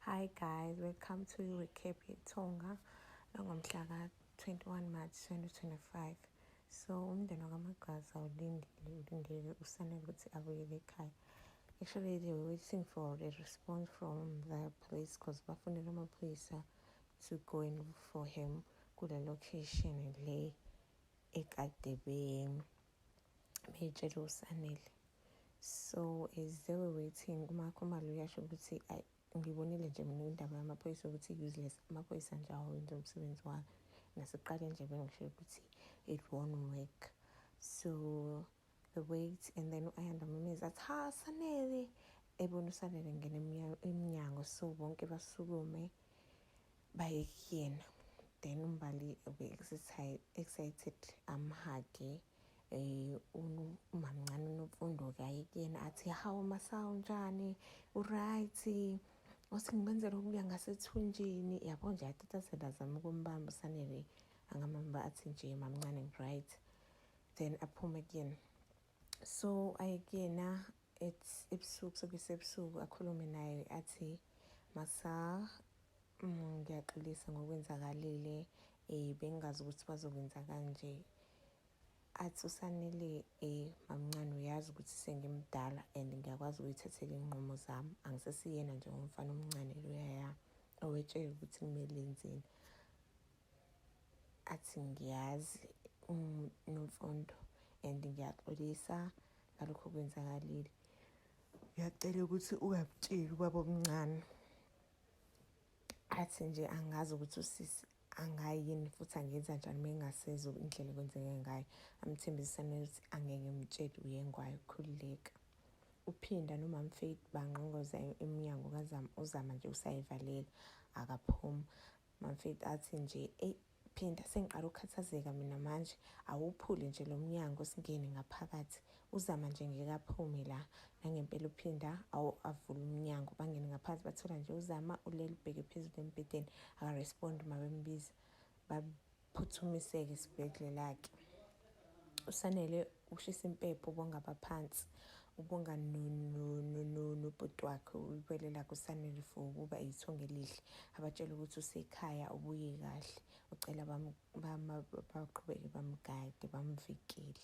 Hi guys, welcome to recap yeThonga langomhla ka-21 March 2025. So umndeni wakaMagwaza ulindile ulindele usanele ukuthi abuyele ekhaya. Actually they were waiting for a response from the police because bafunele amaphoyisa to go in for him kule location le ekade beyitshela usanele so as they were waiting umakhumalo uyasho ukuthi ayi ngibonile nje mina indaba yamaphoyisa ukuthi useless amaphoyisa nje awenza umsebenzi wayo nasiqale nje bengisho ukuthi it won't work so the wait and then u-ayanda mameza athi ha sanele ebona usanele ngena emnyango so bonke basukume baye kuyena then umbali ube-excited amhage eh umamncane unomfundo ke aye kuyena athi hawu masawu njani uright othi ngibenzele okuya ngasethunjini yabo nje atatazela azama ukumbamba sanele angamamba athi nje mamncane ngiright then aphume kuyena so aye kuyena it's ebusuku sokusebusuku akhulume naye athi masa mm, ngiyaxolisa ngokwenzakalile um bengingazi ukuthi bazokwenza kanje athi usanele um mamncane uyazi ukuthi sengimdala and ngiyakwazi ukuyithathela iy'nqumo zami angisesiyena njengomfana omncane loyaya owetshela ukuthi kumele enzeni athi ngiyazi unomfundo and ngiyaxolisa ngalokho okwenzakalile ngiyacela ukuthi ungakutsheli ubaba omncane athi nje angazi ukuthi usisi angayi yini futhi angenza njani uma engasezwa indlela ekwenzeke ngayo amthembisisane ukuthi angeke ngimtshele uyengwayo khululeka uphinda nomam faith banqongoza emnyango kazama uzama nje usayivalela akaphumi Mamfethu athi nje eyi phinda sengiqala ukukhathazeka mina manje awuphule nje lo mnyango singene ngaphakathi uzama nje ngeke aphume la nangempela uphinda awavula umnyango bangene ngaphansi bathola nje uzama ulele ubheke phezulu embhedeni akarespondi uma bembiza phuthumiseke esibhedlela-ke usanele ushisa impepho ubongaba phansi ubonga nobhuti wakhe ulibele lakhe usanele for ukuba ithonga elihle abatshela ukuthi usekhaya ubuye kahle ucela baqhubeke bamgade bamvikele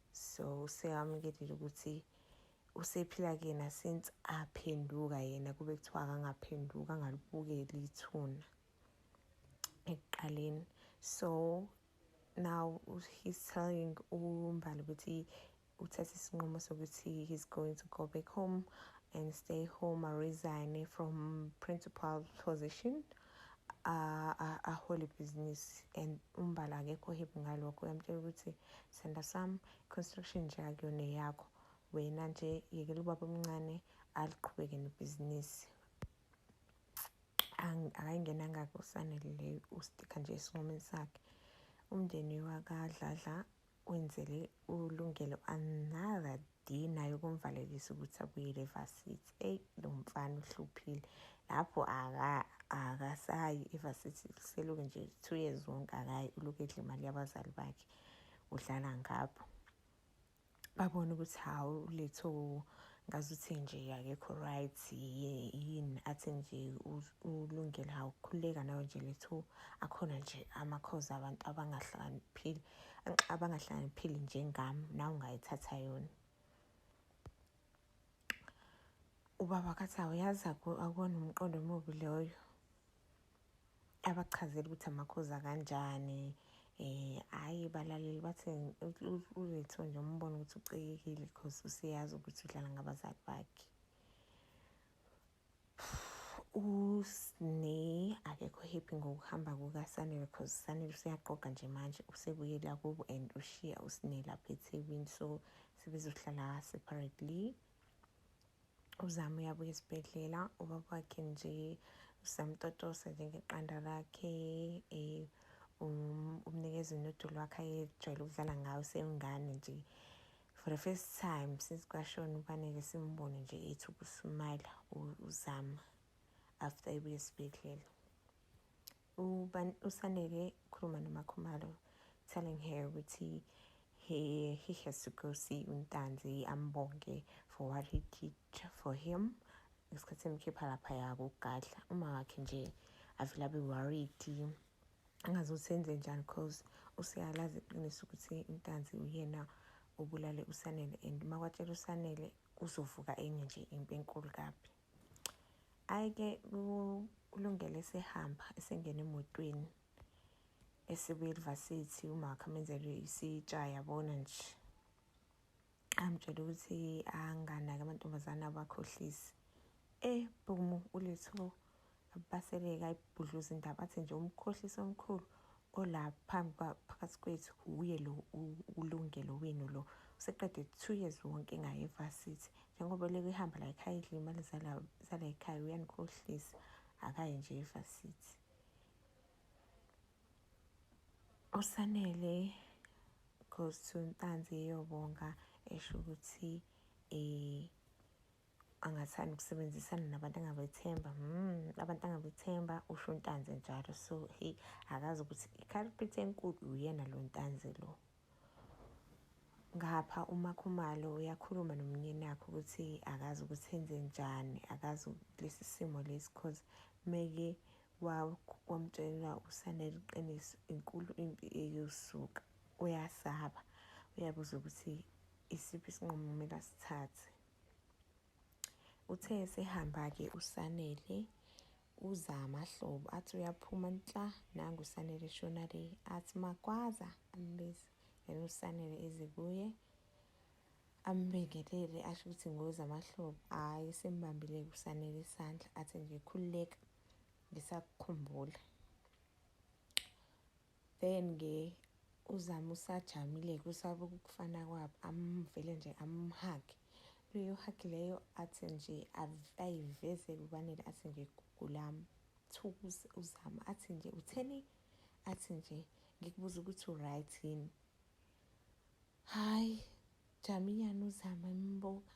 so useyamukelile ukuthi usephila kuyena since aphenduka yena kube kuthiwa akangaphenduka angalibukeli ithuna ekuqaleni so now he's telling umbali ukuthi uthathe isinqumo sokuthi he's going to go back home and stay home aresigne from principal position ahole ibhizinisi and umbala akekho hip ngalokho uyamtshela ukuthi senda sam construction nje akuyona eyakho wena nje yekela ubaba omncane aliqhubeke nebhizinisi akayingenanga kusanele leyo ustika nje esinqumeni sakhe umndeni wakadladla wenzele ulungelo another day naye ukumvalelisa ukuthi abuyele evasithi eyi lo mfana uhluphile lapho akasayi evasithi seluke nje two years wonke akayi uloku edla imali yabazali bakhe udlala ngapho babone ukuthi hawu letho ngazi uthi nje akekho right yini athi nje ulungele hawu khululeka nawe nje letho akhona nje amakhozi abantu abangahlakaniphile abangahlaniphile njengami nawe ungayithatha yona ubaba kathi awuyazi akuwona umqondo omubi loyo abachazele ukuthi amakhoza kanjani eh hayi balaleli bathi uletho nje umbona ukuthi ucekekile because useyazi ukuthi udlala ngabazali bakhe usne akekho happy ngokuhamba kukasanele because sanele useyaqoqa nje manje usebuyela kubo and ushiya usne lapha ethekwini so sebezohlala separately uzama uyabuya esibhedlela ubaba wakhe nje usamtotosa njengeqanda lakhe um um umnikeza unodoli wakhe ayejwayele ukudlala ngawo sewungane nje for the first time since kwashona ubaneke simbone nje ethi ukusmayila uzama after ebuye esibhedlela usanele ukhuluma nomakhumalo telling her ukuthi he, he has to go see untanzi ambonge for what he did for him ngesikhathi emkhipha lapha yakugadla uma wakhe nje avele abe worried angazi ukuthi enze njani cause useyalazi iqiniso ukuthi intanzi uyena obulale usanele and uma kwatshela usanele kuzovuka enye nje impi enkulu kabi ayike kulungele sehamba esengena emotweni esibuye elivasithi umakha amenzele isitsha yabona nje amtshela ukuthi anganaki amantombazane abakhohlisi eh bhumu uletho abaseleka ibhudluza indaba athi nje umkhohlisi omkhulu ola phambi phakathi kwethu uye lo ulungelo wenu lo useqede two years wonke ngaye evasithi njengoba leke ihamba la ekhaya idla imali zala zala ekhaya uyanikhohlisa akaye nje evasithi usanele goes to ntanzi eyobonga esho ukuthi eh angathanda ukusebenzisana nabantu angabethemba mm, abantu angabethemba usho untanzi njalo so he akazi ukuthi i-culprit enkulu uyena lo ntanzi lo ngapha umakhumalo uyakhuluma nomnyeni wakhe ukuthi akazi ukuthi enze njani akazi lesi simo lesi cause meke wamtshela usane liqiniso inkulu impi eyosuka uyasaba uyabuza ukuthi isiphi isinqumo kumele asithathe uthe sehamba-ke usanele Uza amahlobo athi uyaphuma nhla nangu usanele eshona le athi magwaza ambize yena usanele eze kuye ambingelele asho ukuthi ngoza amahlobo hhayi sembambile kusanele isandla athi nje khululeka ngisakukhumbula then ke uzama usajamile kusaba ukufana kwabo amvele nje amhage leyo hagi leyo athi nje ayiveze kubanele athi nje gulam thuku uzama athi nje utheni athi nje ngikubuza ukuthi uright yini hayi jaminyana uzama imbuka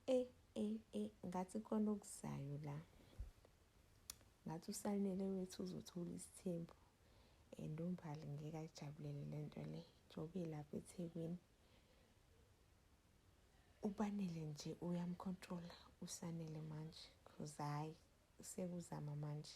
e e e ngathi khona okuzayo la ngathi usanele wethu uzothola isithembu and umbhali ngeke ayijabulele le nto le njengoba ilapha ethekwini ubanele nje uyamkhontrola usanele manje because hhayi sekuzama manje